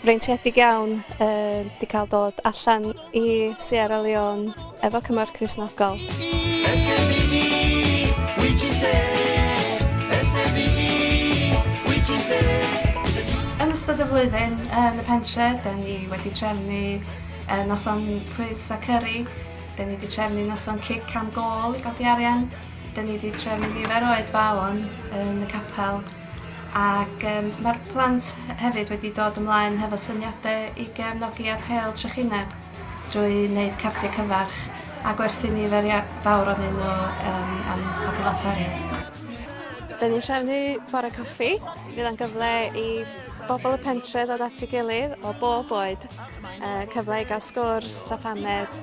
freintiedig iawn yy 'di ca'l dod allan i Sierra Leone efo cymorth Cristnogol. Yn ystod y flwyddyn yn y pentre 'da ni wedi trefnu yy noson pwys a cyri, 'da ni 'di trefnu noson cic am gôl i godi arian, 'da ni 'di trefnu nifer o oedfaon yn y capel, Ac yym mae'r plant hefyd wedi dod ymlaen hefo syniade i gefnogi ar Heol Trychineb drwy wneud cardiau cyfarch a gwerthu nifer ia- fawr onyn nhw yym am pob lot o arian. Dyn ni'n trefnu bore coffi, fydd o'n gyfle i bobl y pentre ddod at ei gilydd o bob oed, yy cyfle i gael sgwrs a phaned,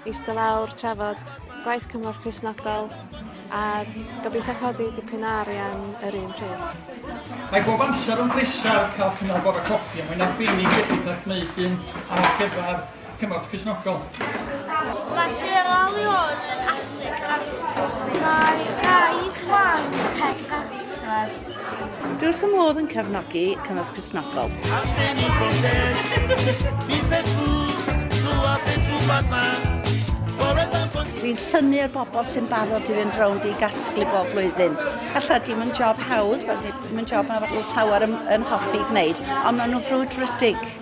Eistedd lawr, trafod gwaith cymorth Cristnogol a gobeithio codi dipyn o arian yr un pryd. Mae bob amser yn bleser cael cynnal bore coffi a mae'n arbennig felly cael gwneud un ar gyfer cymorth Cristnogol. Mae Sierra Leone yn Affrica. Mae rhai gwaith Peg Glaswellth Dwi wrth fy modd yn cefnogi Cymorth Cristnogol. Dwi'n syni ar bobl sy'n barod i fynd rownd i gasglu bob flwyddyn. Alla dim yn job hawdd, dim yn job mae llawer yn, yn hoffi gwneud, ond maen nhw'n frwdfrydig.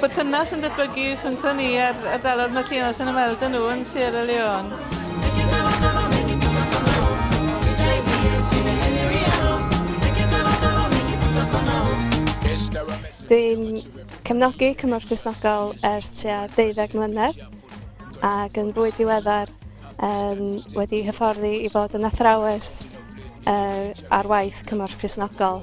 Perthynas yn datblygu rhyngthon ni a'r ardalodd mae Llianos yn ymweld â nhw yn Sierra Leone. Dwi'n cefnogi Cymorth Cristnogol ers tua 12 mlynedd ac yn fwy diweddar um, wedi hyfforddi i fod yn athrawes uh, ar waith Cymorth Cristnogol.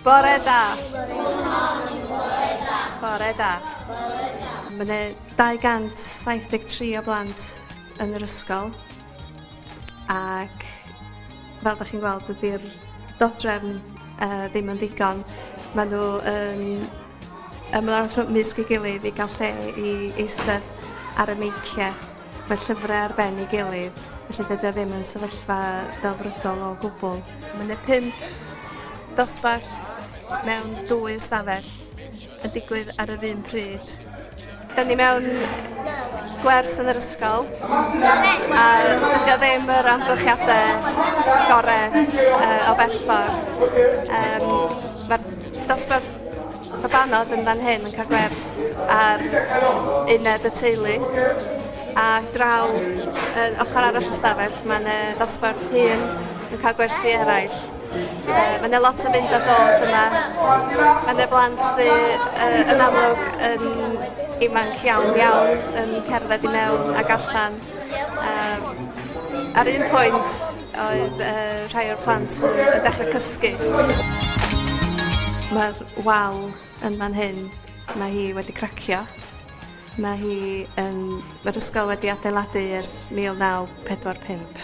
Bore da. Good morning, bore da. Bore da. Bore da. Mae yna 273 o blant yn yr ysgol ac fel ydych chi'n gweld ydy'r dodrefn uh, ddim yn ddigon. Maen nhw yn ymlaen rhwng mysg ei gilydd i gael lle i eistedd ar y meiciau. Mae llyfrau ar ben ei gilydd, felly dydy o ddim yn sefyllfa delfrydol o gwbl. Mae 'na pump dosbarth mewn dwy ystafell yn digwydd ar yr un pryd. Da ni mewn gwers yn yr ysgol a dydy o ddim yr amgylchiadau gorau uh, o bell ffordd. Um, Mae'r dosbarth Babanod yn fan hyn yn cael gwers ar uned y teulu a draw yn ochr arall y stafell mae'n y ddosbarth hyn yn cael gwersi eraill. Mae yna lot o fynd a dod yma. Mae yna blant sydd uh, yn amlwg yn ifanc iawn iawn yn cerdded i mewn ac allan. Um, ar un pwynt Oedd yy rhai o'r plant yn yn dechre cysgu. Ma'r wal yn fan hyn, ma' hi wedi cracio. Ma' hi yn... Ma'r ysgol wedi adeiladu ers 1945,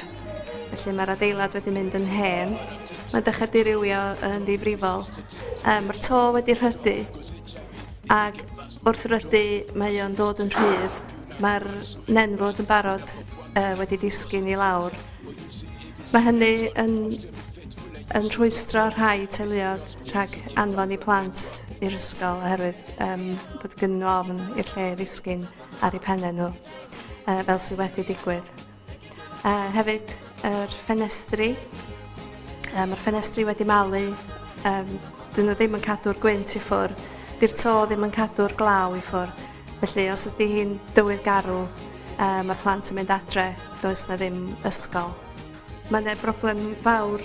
felly ma'r adeilad wedi mynd yn hen. Ma'n dechre dirywio yn ddifrifol. Yym ma'r to wedi rhydu ag Wrth ryddu, mae o'n dod yn rhydd. Mae'r nenfwd yn barod uh, wedi disgyn i lawr. Mae hynny yn, yn rhwystro rhai teuluodd rhag anfon i plant i'r ysgol oherwydd um, bod gynnu ofn i'r lle ddisgyn ar eu pennau nhw, uh, fel sydd wedi digwydd. A hefyd yr ffenestri. Yy ma'r ffenestri wedi malu yym 'dyn n'w ddim yn cadw'r gwynt i ffwr'. 'Di'r to ddim yn cadw'r glaw i ffwr'. Felly os ydi hi'n dywydd garw yy ma'r plant yn mynd adre does 'na ddim ysgol. Ma' 'ne broblem fawr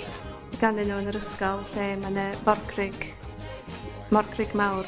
ganddyn n'w yn yr ysgol lle ma' 'ne forgrug morgrug mawr.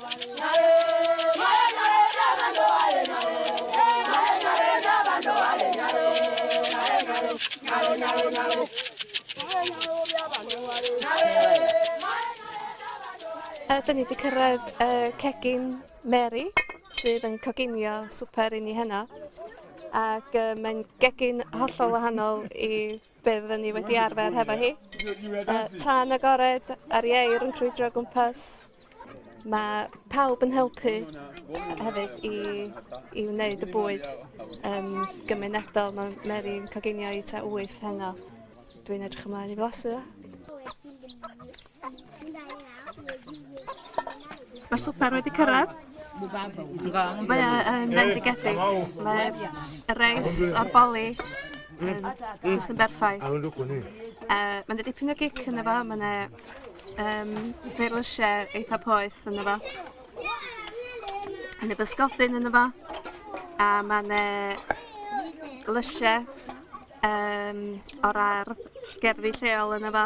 A 'dyn ni 'di cyrraedd y cegin Mary sydd yn coginio swper i ni heno ac yy mae'n gegin hollol wahanol i Byddwn ni wedi arfer hefo hi. Uh, tan agored ar ieir yn crwydro gwmpas. Mae pawb yn helpu hefyd i, i wneud y bwyd um, gymunedol. Mae Mary'n coginio i ta wyth heno. Dwi'n edrych ymlaen i flasu. Mae swper wedi cyrraedd. Mae e yn fendigedig. Mae'r reis o'r boli yn just yn berffaith. Uh, Mae'n dipyn o gic yn efo, mae'n e um, feirlysiau eitha poeth yn efo. Yn y bysgodyn yn efo. A mae'n e lysiau um, o'r ar gerddi lleol yn efo.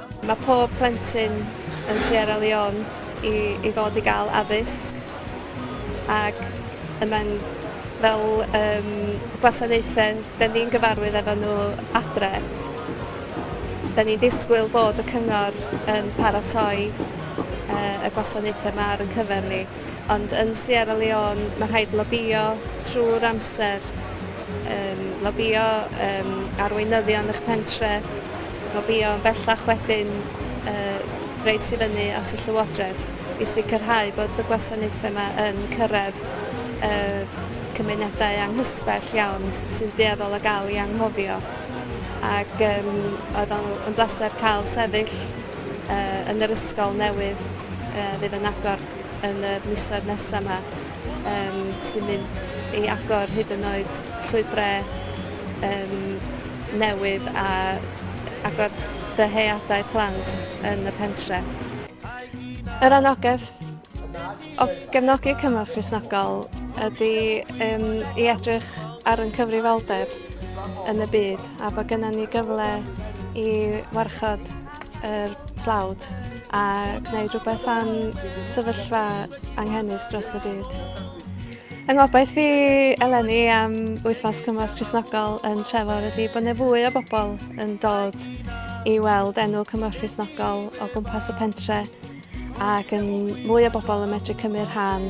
Mae pob plentyn yn Sierra Leone i i fod i gael addysg ac y mae'n fel yym gwasanaethau dan ni'n gyfarwydd efo nhw adre. Dan ni'n disgwyl bod y cyngor yn paratoi yy y gwasanaethau yma ar ein cyfer ni ond yn Sierra Leone mae'n rhaid lobïo trwy'r amser yym lobïo yym arweinyddion eich pentre. Mae Beyond bellach wedi'n rhoi tu fyny at y Llywodraeth i sicrhau bod y gwasanaethau yma yn cyrraedd y cymunedau anghysbell iawn sy'n dueddol o gael eu anghofio ac yym oedd o'n yn bleser cael sefyll yy yn yr ysgol newydd yy fydd yn agor yn y misoedd nesaf 'ma. Yym sy'n mynd i agor hyd yn oed llwybre yym newydd a agor dyheadau plant yn y pentre. Yr anogaeth o gefnogi cymorth Cristnogol ydy yym i edrych ar ein cyfrifoldeb yn y byd a bod gynnon ni gyfle i warchod yr tlawd a gwneud rhywbeth am sefyllfa anghenus dros y byd. Yng ngobaith i eleni am wythnos cymorth Cresnogol yn Trefor ydy bod yna fwy o bobl yn dod i weld enw cymorth Cresnogol o gwmpas y pentre ac yn mwy o bobl yn medru cymryd rhan